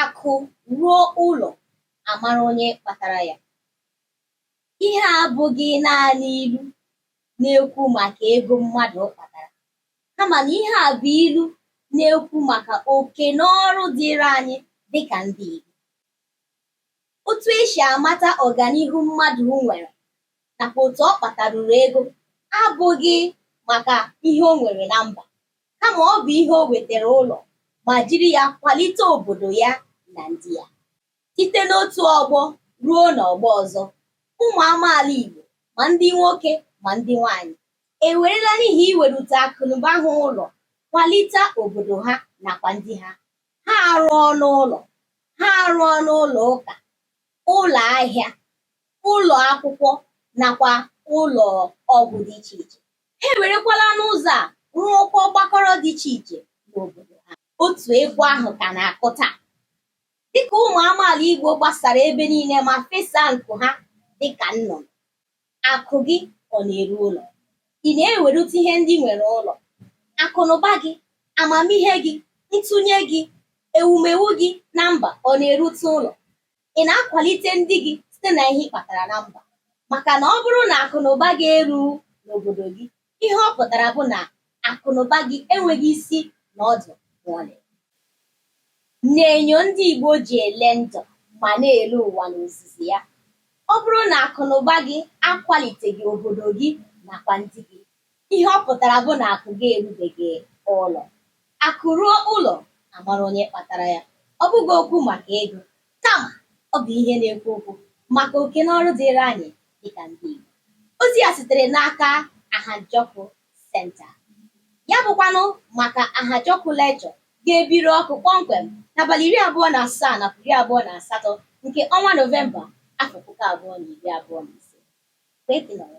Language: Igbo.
Akụ ruo ụlọ, a mara onye kpatara ya. Ihe a abụghị naanị ilu na-ekwu maka ego mmadụ kpatara, kama na ihe a bụ ilu na-ekwu maka oke na ọrụ dịịrị anyị dị ka ndị Igbo. Otu e si amata ọganihu mmadụ nwere nakwa otu ọ kpataruru ego abụghị maka ihe o nwere na mba kama ọ bụ ihe o wetara ụlọ ma jiri ya kwalite obodo ya na ndị ya site n'otu ọgbọ ruo n'ọgbọ ọzọ ụmụ amaala Igbo ma ndị nwoke ma ndị nwanyị ewerela n'ihi iwerute akụnụba ha ụlọ kwalite obodo ha nakwa ndị ha ha arụọla ụlọ ha arụọla ụlọ ụka ụlọ ahịa ụlọ akwụkwọ nakwa ụlọ ọgwụ dị iche iche ha ewerekwala n'ụzọ a rụọkwa ọgbakọrọ dị iche iche n'obodo ha otu egwu ahụ ka na-akụ taa dịka ụmụ amaala Igbo gbasara ebe niile ma fesaa nku ha dịka nnụnụ Akụ gị ọ na-eru ụlọ? Ị na-ewerute ihe ndị i nwere ụlọ? Akụnụba gị, amamihe gị, ntụnye gị, ewumewu gị na mba ọ na-erute ụlọ? Ị na-akwalite ndị gị site na ihe ị kpatara na mba? Maka na ọ bụrụ na akụnụba gị erughị n'obodo gị, Ihe ọ pụtara bụ na akụnụba gị enweghị isi na ọdụ ma ọlị. N'enyo ndị Igbo ji ele ndụ ma na-ele ụwa n'ozuzu ya, ọ bụrụ na akụnụba gị akwaliteghị obodo gị nakwa ndị gị, ihe ọ pụtara bụ na akụ gị erubeghị ụlọ. Akụ ruo ụlọ, a mara onye kpatara ya. Ọ bụghị okwu maka ego, Kama, ọ bụ ihe na-ekwu okwu maka oke na ọrụ dịịrị anyị dịka ndị Igbo. Ozi a sitere n'aka Ahịajọkụ Center. Ya bụkwanụ maka Ahịajọkụ Lecture ga-ebiri ọkụ kpọmkwem n'abalị iri abụọ na asaa nakwa iri abụọ na asatọ nke ọnwa Nọvemba afọ puku abụọ na iri abụọ na ise. Kwee ka ị nọrọ